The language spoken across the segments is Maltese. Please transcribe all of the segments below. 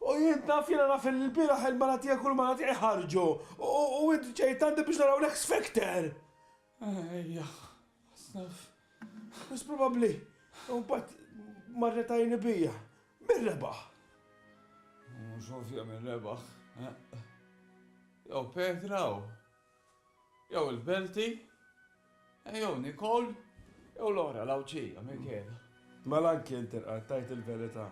U jien naf, jiena naf li l-bieraħ il-mara tiegħek u l-mara tiegħi ħarġu, u int ġejt għandi biex naraw l-ex Victor! Ejja, Asaf. Wis probabbli. U mbagħad marret għajni bija. Min rebaħ? Mhux ovvja min rebaħ. Jew Petra u. Jew il-Belti, jew Nikol, jew Lora l-Għawdxija, Michela. Mela anki int irqad tgħid il-verità.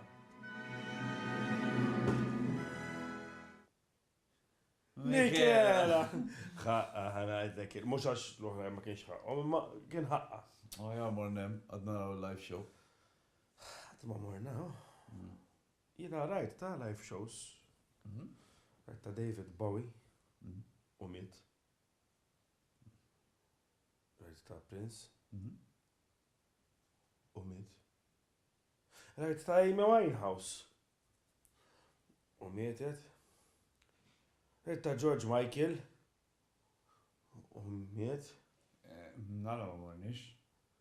Michela! Ħaqqa ħanajtek, mhux għax l-oħrajn ma kienx ħaqqhom, imma kien ħaqqa. Ħajja mornem, għad naraw il-live show. Għad ma morna, oh. Jiena rajt ta' live shows rajt ta' David Bowie u miet rajt ta' Prince u miet rajt ta' Amy Winehouse u mietet rajt ta' George Michael u miet. Nara ma morniex,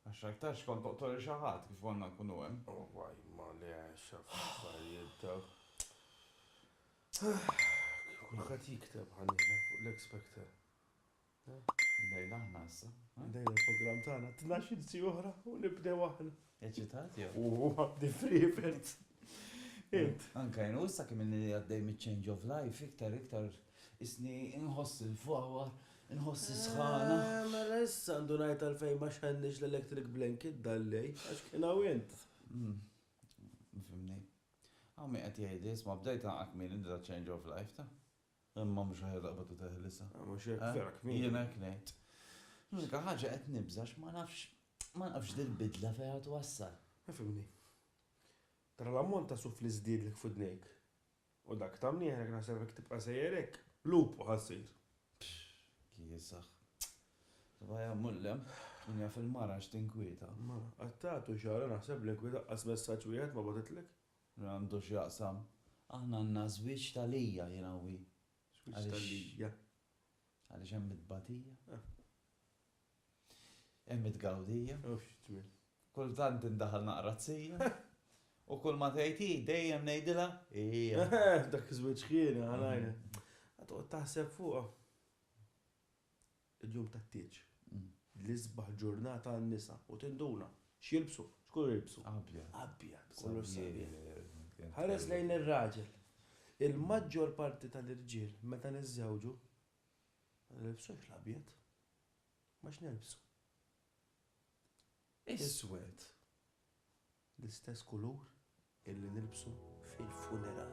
għax aktarx kont toqtol lil xi ħadd kif konna nkunu hemm. Wawwa imma li għexa fl-affarijiet dawk. Kif kulħadd jikteb għalina fuq l-X-Factor. Bdejna aħna issa. Bdejna l-programm tagħna, tnax-il siegħa oħra u nibdew aħna. Eċitat jew? U għabdi frivert. Int. Anka jenu, issa kemm inni għaddej mit-change of life, iktar, iktar, isni inħoss il-fawa, inħoss il-sħana. Eh, mela issa għandu najt għal-fejn ma xħennix l-electric blanket dallej, għax kien għawint. Hmm. Fimni. Għammi għat jgħid, isma bdejt għakmin id-da change of life ta' Imma mhux aħjar laqbad u teħlisha. Ah, mhux hekk, vera kmieni. Jiena hekk ngħid. L-unika ħaġa qed nibża' għax ma nafx ma nafx dil-bidla fejn qed twassal. Ifhimni. Tara l-ammont ta' suf li żdiedlek f'idnejk u dak ta' mnieħrek naħseb jekk tibqa' sejjer hekk, lupu ħa ssir. Kiesaħ. Tibqa' hemm u 'l hemm, min jaf il-mara x'tinkwieta. Ma, qattgħet u xagħra naħseb li nkwieta qas messaġġ wieħed ma bagħtitlek. Min għandu x'jaqsam. Aħna għandna żwieġ ta' lija, jiena u hi. Żwieġ ta' lija. Għaliex hemm it-tbatija. Hemm it-tgawdija. U x'tmien. Kultant indaħal naqra t-sija. U kull ma tgħid hi, dejjem ngħidilha, hija. Dak iż-żwieġ ħjieni, ħa ngħidlek. Ħa toqgħod taħseb fuqha. Il-jum tat-tieġ, l-isbaħ ġurnata għan-nisa u tinduna, x'jilbsu? X'kulur jilbsu? Abjad. Abjad, kulur sabiħ. Ħares lejn ir-raġel. Il-maġġor parti tal-irġiel meta niżżewġu, ma nilbsux l-abjad. Imma x'nilbsu? Iswed. L-istess kulur illi nilbsu fil-funeral.